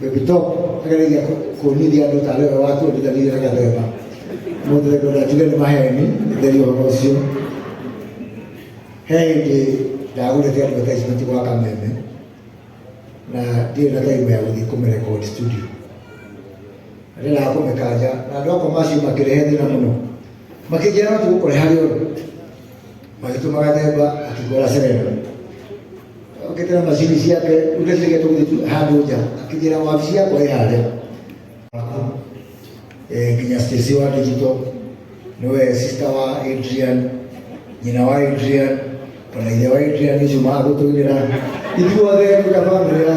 Bebito agereire kuonithia andũ tarĩ we watuonithanirie na gathemba mũndũ theko ndatige nĩ maheni theri ũhoro ũcio he hĩndĩ ndagũrĩte andũ advertisement gwa kameme na ndirĩ na time ya gũthiĩ kũmĩrekodi studio na ndĩraga kũmĩkanja na andũ akwa macio makĩrehe thĩna mũno makĩnjĩra no tũgũkore harĩ ũndũ magĩtũma gathemba akĩgũra serera okĩtĩra macini ciake rĩu ndacirĩge tũgũthitu handũ nja akĩnjĩra wabici yakwa ĩ harĩa Eh, nginya stesi wa digital niwe sister wa adrian nyina wa adrian kana ithe wa adrian nĩcio magũtũgĩra ithuothe twĩna bamĩrĩ ya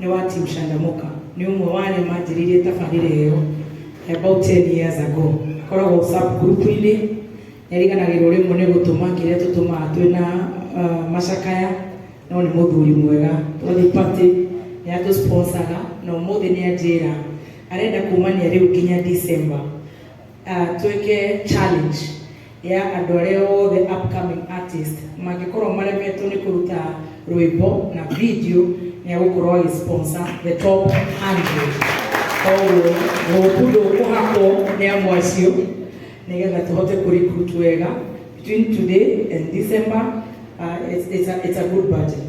nĩ wa Team Shandamoka, nĩ ũmwe wa arĩa manjĩrĩirie tabarĩra ĩyo about 10 years ago. Akoragwo sub group-inĩ, nĩariganagĩrwo rĩmwe nĩ gũtũma kĩrĩa tũtũmaga twĩna uh, macakaya, no nĩ mũthuri mwega. Twathiĩ party, nĩ atũ sponsaga, na ũmũthĩ nĩ anjĩra arenda kumania rĩu nginya December Twĩke challenge ya andũ arĩa othe upcoming artist mangĩkorwo maremetwo nĩ kũruta rwĩmbo na video nĩ agũkorwo agĩ sponsor the top 100. Koguo hope ndũkũhakwo nĩ amwe acio nĩgetha tũhote kũ recruit wega between today and December. Uh, it's, it's, a, it's a good budget.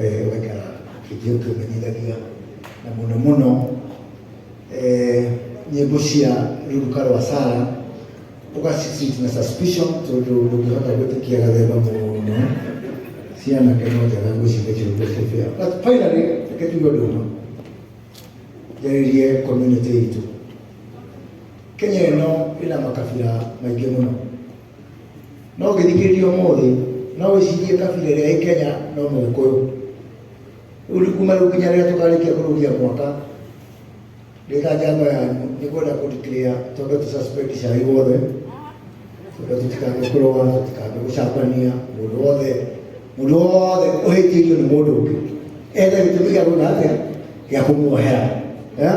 eh, weka kĩnjio kĩmenyithagia na mũno mũno eh, nyĩmbo cia ruruka rwa sara ũgacitreat na suspicion tondũ ndũngĩhota gwĩtĩkia gathemba mũno ciana keno njega gwĩciria kĩrũgo kĩbĩa but finally reke tuge ũndũ ũmwe njarĩrie community itũ kenya ĩno ĩna makabira maingĩ mũno No ũngĩthikĩrĩria ũmũthĩ no wĩcirie kabira ĩrĩa ĩ Kenya no Mũgĩkũyũ. Rĩu nĩ kuma rĩu nginya rĩrĩa tũkarĩkia kũrũgia mwaka ndĩ ta njamba yanyu nĩ kwenda kũdeclare twambe tũsuspend cai wothe twambe tũtikambe kũrũa tũtikambe gũcambania mũndũ wothe mũndũ wothe ũhĩtĩirio nĩ mũndũ ũngĩ ethe gĩtũmi gĩa gwĩka atĩa gĩa kũmuohera Eh?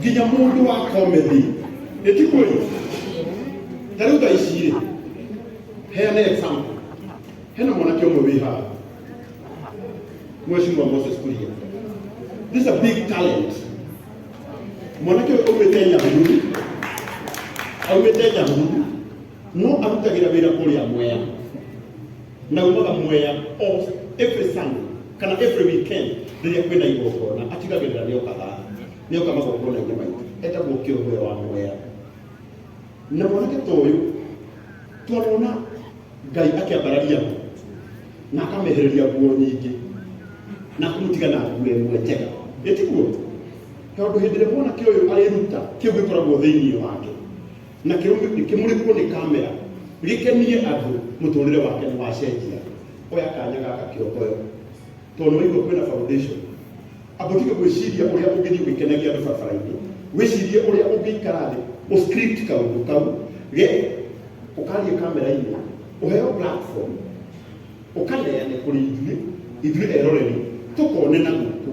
nginya mũndũ wa komedi ĩtikũĩ ta rĩu thaa ici rĩ heane example hena mwanake ũmwe wĩ haha mweshimwa moses kuria this is a big talent mwanake ũyũ aumĩte nyahururu aumĩte nyahururu no arutagira wira kuria mwea na umaga mwea of every sunday kana every weekend riria kwina igongona atigagirira ni okaga ni oka magongona ini maitu etagwo kiumbiro wa mwea na mwanake ta uyu twarona ngai akiambararia ho na akamehereria nguo nyingĩ na kũmũtiga na nguo ĩmwe njega ĩtiguo tondũ hĩndĩ ĩrĩa mwanake ũyũ areruta kĩu gĩkoragwo thĩinĩ wake na kĩmurikwo nĩ kamera gĩkenie andũ mũtũrĩre wake nĩ wacenjia oya kanya gaka kĩokoyo tondũ waigua kwĩna foundation ambotige gwĩciria ũrĩa ũngĩthiĩ ũgĩkenagia andũ barabara-inĩ wĩcirie ũrĩa ũngĩikara thĩ ũscript kaũndũ kau ge ũkarie kamera-inĩ ũheo platform ũkaneane kũrĩ ithuĩ ithuĩ eroreri tũkone na gũkũ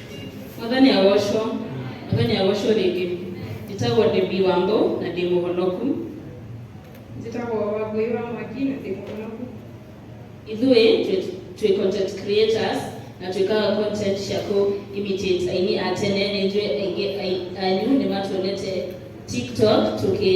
mwathani agocwo mwathani agocwo rĩngĩ njĩtagwo ndĩmbi wambo na ndĩ mũhonoku njĩtagwo wambui wa mwaki na ndĩ mũhonoku ithuĩ twĩ- twĩ content creators na twĩkaga content cia kũ imitate aini a tene nĩ njũĩ aingĩ ai- anyu nĩ matuonete tiktok tũkĩ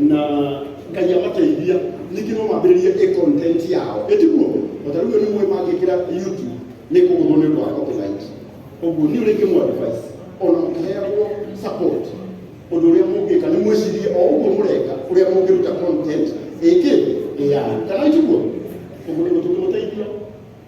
na ngai amateithia ningĩ no mambĩrĩrie ĩ content yao ĩtiguo otarĩu nĩ mũĩ mangĩkĩra youtube nĩ kũgũthwo nĩ ũndũ wa copyright ũguo nĩ ũrĩngĩ mũ advice ona mũkĩheagwo support ũndũ ũrĩa mũngĩka nĩ mwĩcirie o ũguo mũreka ũrĩa mũngĩruta content ĩkĩ ĩyani kana ĩtiguo ũguo nĩ gũtũkĩmũteithia